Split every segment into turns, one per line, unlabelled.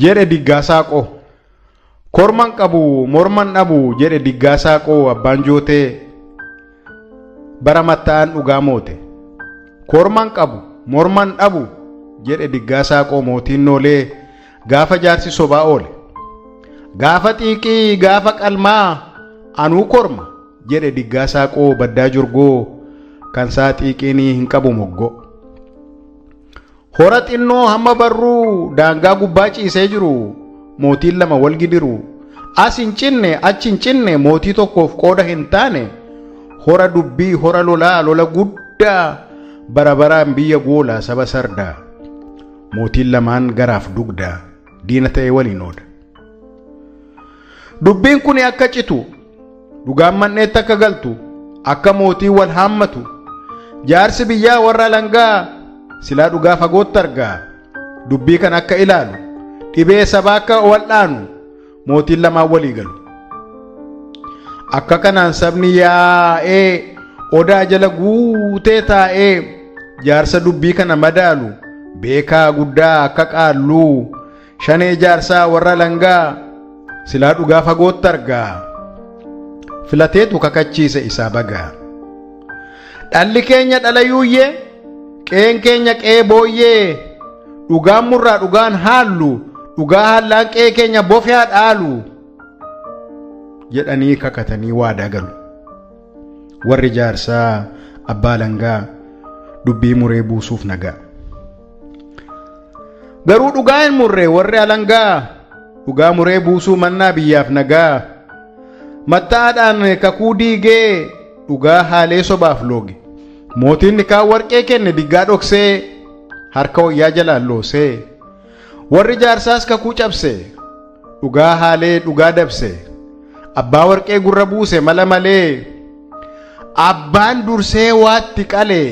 jedhe diggaasaa qoo. Korman qabu morman dhabu jedhe diggaasaa qoo abbaan jootee bara matta'aan dhugaa moote. Korman qabu morman dhabu jedhe diggaasaa qoo mootiin noolee gaafa jaarsi sobaa oole. Gaafa xiiqii gaafa qalmaa anuu korma jedhe diggaasaa qoo baddaa jorgoo kan isaa xiiqiinii hin qabu moggoo. Hora xinnoo hamma barruu daangaa gubbaa ciisee jiru mootiin lama wal gidiru. As hin cinne achi hin cinne mootii tokkoof qooda hin taane hora dubbii hora lolaa lola guddaa bara baraan biyya goola saba sardaa. Mootiin lamaan garaaf dugdaa diina ta'e waliin ooda. Dubbiin kun akka citu Dhugaan man'eetti akka galtu akka mootiin wal haammatu jaarsi biyyaa warra alangaa silaa dhugaa fagootti argaa dubbii kan akka ilaalu dhibee sabaa akka wal'aanu mootiin lamaan walii galu. Akka kanaan sabni yaa'ee odaa jala guutee taa'ee jaarsa dubbii kana madaalu beekaa guddaa akka qaalluu Shanee jaarsaa warra langaa silaa dhugaa fagootti argaa filateetu kakachiise isaa bagaa. Dhalli keenya dhala yuuyyee qeen keenya qee booyyee dhugaan murraa dhugaan haallu dhugaa haallaan qee keenya bofyaa dhaalu jedhanii kakatanii waadaa galu. Warri jaarsaa abbaa langaa dubbii muree buusuuf nagaa. Garuu dhugaa hin murree warri alangaa dhugaa muree buusuu mannaa biyyaaf nagaa. Matta'aadhaan kakuu diigee dhugaa haalee sobaaf looge. Mootiin nikaa warqee kenne diggaa dhoksee harka wayyaa jalaan loosee. Warri jaarsaas kakuu cabse, dhugaa haalee dhugaa dabse, abbaa warqee gurra buuse mala malee, abbaan dursee waatti qale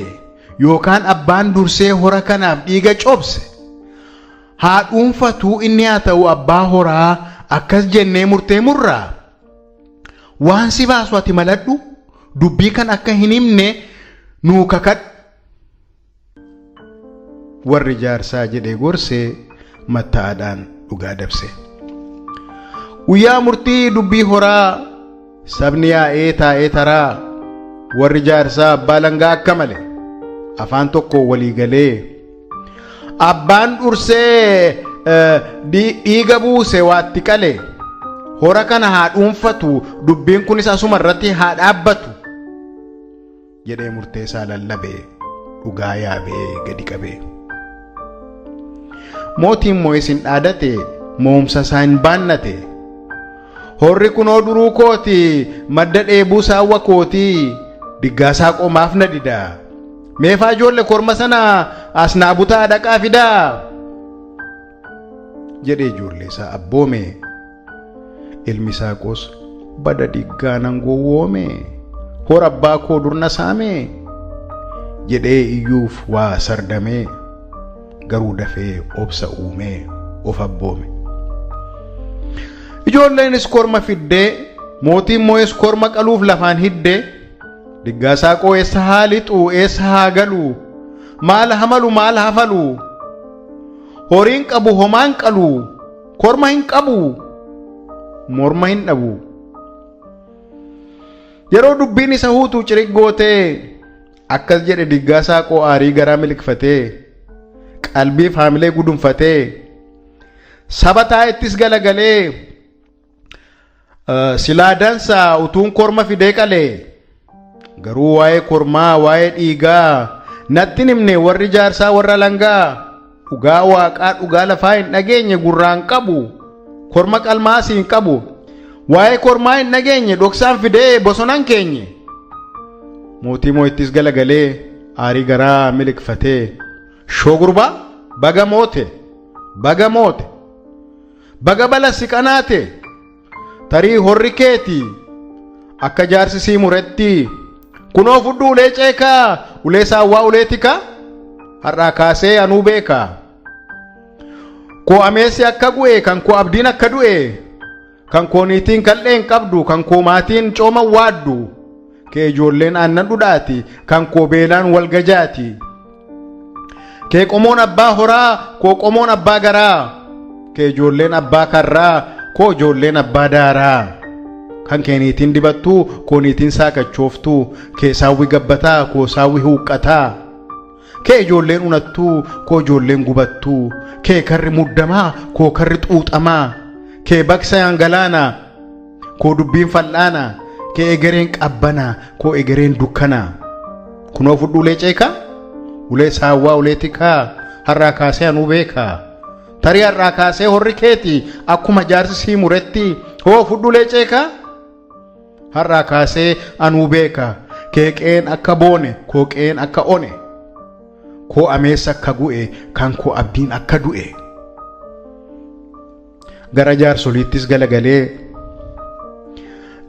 yookaan abbaan dursee hora kanaaf dhiiga cobse haa dhuunfatuu inni haa ta'u abbaa horaa akkas jennee murtee murraa waan si baasu ati maladhu dubbii kan akka hin himne nuu kakadhu. Warri jaarsaa jedhee gorse matta'aadhaan dhugaa dabse. Guyyaa murtii dubbii horaa sabni yaa'ee taa'ee taraa warri jaarsaa abbaa langaa akka male afaan tokko walii galee abbaan dhursee eh, dhi- dhiiga buuse waatti qale hora kana haa dhuunfatu dubbiin kunis asuma irratti haa dhaabbatu jedhee murteesaa lallabe dhugaa yaabee gadi qabee. Mootiin moo'is hin dhaadate mo'umsa isaa hin baannate. Horri kunoo duruu kooti madda dheebuu saawwa kooti diggaasaa qomaaf na dida. Meefaa ijoolle korma sana as naa butaa dhaqaa fidaa. jedhee ijoollee isaa abboome. Ilmi Saaqoos bada dhiggaanan gowwoome hora abbaa koo durna saame jedhee iyyuuf waa sardamee garuu dafee obsa uumee of abboome. Ijoolleenis korma fiddee mootiin moo'es korma qaluuf lafaan hiddee diggaa saaqoo eessa haa lixu eessa haa galu maal hamalu maal hafalu horiin qabu homaan qalu. Korma hin qabu. Morma hin dhabu. Yeroo dubbiin isa huutu cirig gootee akkas jedhe diggaa saaqoo aarii garaa miliqfatee qalbiif haamilee gudunfatee saba taa'ettis galagalee Silaa dansaa utuun korma fidee qalee garuu waa'ee kormaa waa'ee dhiigaa nattin himne warri jaarsaa warra langaa dhugaa waaqaa dhugaa lafaa hin dhageenye gurraan qabu korma qalmaa asii hin qabu waa'ee kormaa hin dhageenye dhoksaan fidee bosonan keenye mootii moo'ittis galagalee aarii garaa miliqfatee shoo gurbaa baga moote baga moote. Baga bala si qanaate tarii horri keeti akka jaarsi sii muretti kunoo fudhu ulee ceekaa ulee saawwaa ulee tikaa har'aa kaasee anuu beekaa koo ameessi akka gu'e kan koo abdiin akka du'e kan koo niitiin kal'een qabdu kan koo maatiin cooman waaddu kee ijoolleen aannan dhudhaati kan koo beelaan wal gajaati kee qomoon abbaa horaa koo qomoon abbaa garaa kee ijoolleen abbaa karraa koo ijoolleen abbaa daaraa kan kee niitiin dibattuu koo niitiin saakachooftuu kee saawwi gabbataa koo saawwi huuqqataa Kee ijoolleen unattuu koo ijoolleen gubattuu Kee karri muddamaa koo karri xuuxamaa Kee baqsayaan galaanaa koo dubbiin fal'aanaa Kee egereen qabbanaa koo egereen dukkanaa Kunoo fudhu ulee ceekaa ulee saawwaa ulee tikaa Har'aa kaasee anuu beekaa Tarii har'aa kaasee horri keeti Akkuma jaarsi sii muretti Hoo fudhu ulee ceekaa Har'aa kaasee anuu beeka keeqeen akka boone kooqeen akka one koo ameessa akka gu'e kan koo abdiin akka du'e gara jaarsoliittis galagalee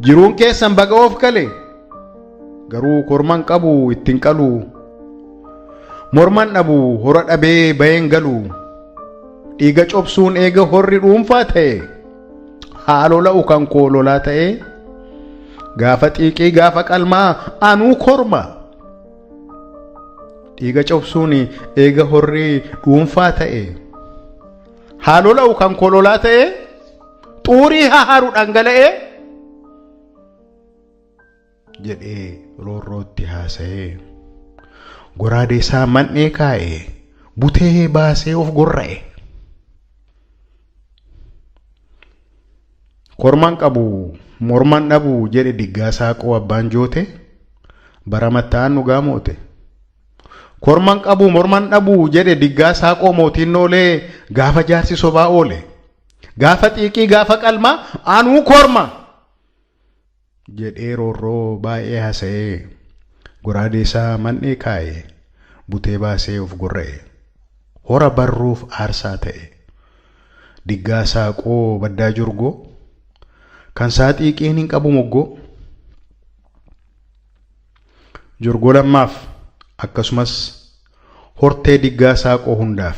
jiruun keessan baga of gale garuu korman qabu ittiin qalu morman dhabu hora dhabee bayeen galu dhiiga cobsuun eega horri dhuunfaa ta'e. haa lola'u kan koo lolaa ta'ee gaafa xiiqii gaafa qalmaa anuu korma dhiiga cobsuun eega horrii dhuunfaa ta'e haa lola'u kan koo lolaa ta'ee xuurii haa haru dhangala'ee jedhee roorrootti haasa'ee goraadee isaa man'ee kaa'ee butee baasee of gorra'e. Kormaan qabu morman dhabu jedhe diggaa saaqoo abbaan joote bara matta'aan dhugaa moote. Kormaan qabu morman dhabu jedhe diggaa saaqoo mootiin noolee gaafa jaarsi sobaa oole. Gaafa xiiqii gaafa qalmaa anuu korma. jedhee roorroo baay'ee hasa'ee goraadee isaa man'ee kaa'e butee baasee of gorra'e hora barruuf aarsaa ta'e diggaa saaqoo baddaa jorgoo kan saa xiiqiin hin qabu moggoo jorgoo lammaaf akkasumas hortee diggaa saaqoo hundaaf.